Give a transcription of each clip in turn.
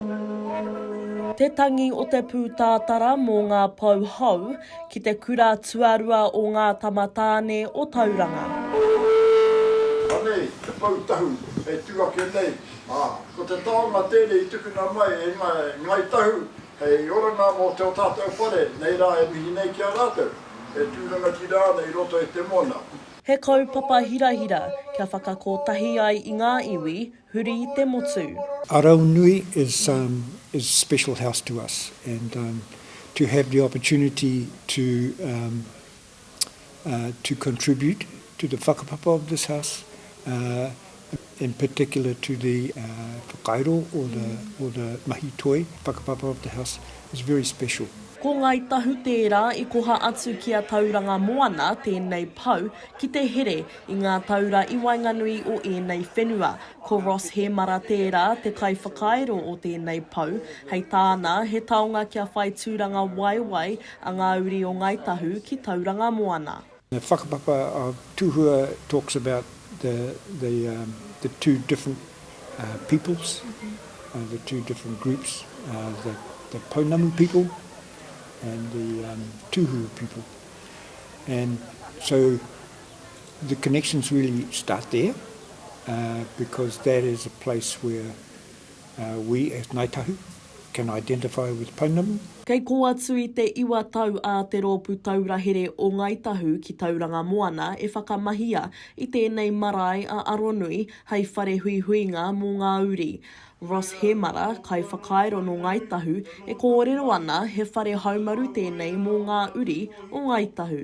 Te tangi o te pūtātara mō ngā pou hou ki te kura tuarua o Ngā Tamatāne o Tauranga. Anei te pou tahu hei tū ake nei, ā, ko te taonga tēnei i tukuna mai e ngā Ngāi Tahu hei oranga mō tō tātou whare nei rā e mihi nei ki a rātou e tū rangatira ana i roto i te mōna. He kaupapa hirahira kia whakakotahi ai i ngā iwi huri i te motu. Araunui is um is special house to us and um to have the opportunity to um uh to contribute to the whakapapa of this house uh in particular to the uh whakairo or the or the mahi toi whakapapa of the house is very special. Ko Ngāi Tahu tērā i koha atu ki a Tauranga Moana tēnei pau ki te here I ngā taura i waenganui o ēnei whenua, ko Ross Hēmara tērā te kaiwhakairo o tēnei pou, hei tāna, he taonga kia whai tūranga waewae a ngā uri o Ngāi Tahu ki Tauranga Moana. The whakapapa of Tuhua talks about the the the two different peoples, the two different groups, the the Pounamu people and the Tuhua people and so, the connections really start there uh, because that is a place where uh, we as Ngāi Tahu can identify with Pounamu. Kei kō atu i te iwa tau a Te Rōpū Taura Here o Ngāi Tahu ki Tauranga Moana e whakamahia i tēnei marae a Aronui hei whare huihuinga mō ngā uri. Ross Hemara, kaiwhakairo nō Ngāi Tahu, e kōrero ana he whare haumaru tēnei mō ngā uri o Ngāi Tahu.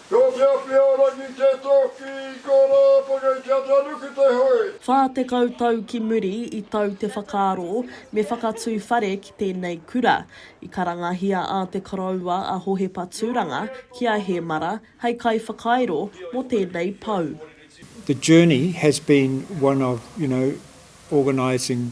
Ko te awhiarangi te toki i ko ra pake kia tanuki te hui. Whā tekau tau ki muri i tau te whakaaro me whakatū whare ki tēnei kura. I karangahia a te Koroua a Hohepa Tūranga ki a Hēmara hei kaiwhakairo mō tēnei pou. The journey has been one of, you know, organising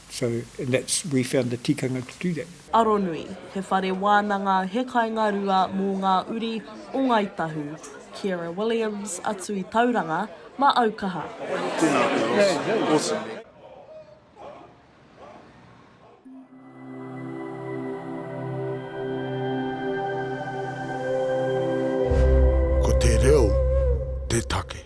So and that's we found the tikanga to do that. Aronui, he whare wānanga, he kainga rua mō ngā uri o Ngāi Tahu, Ciara Williams, atu i Tauranga, ma Aukaha. Tēnā girls, awesome. Ko te reo te take.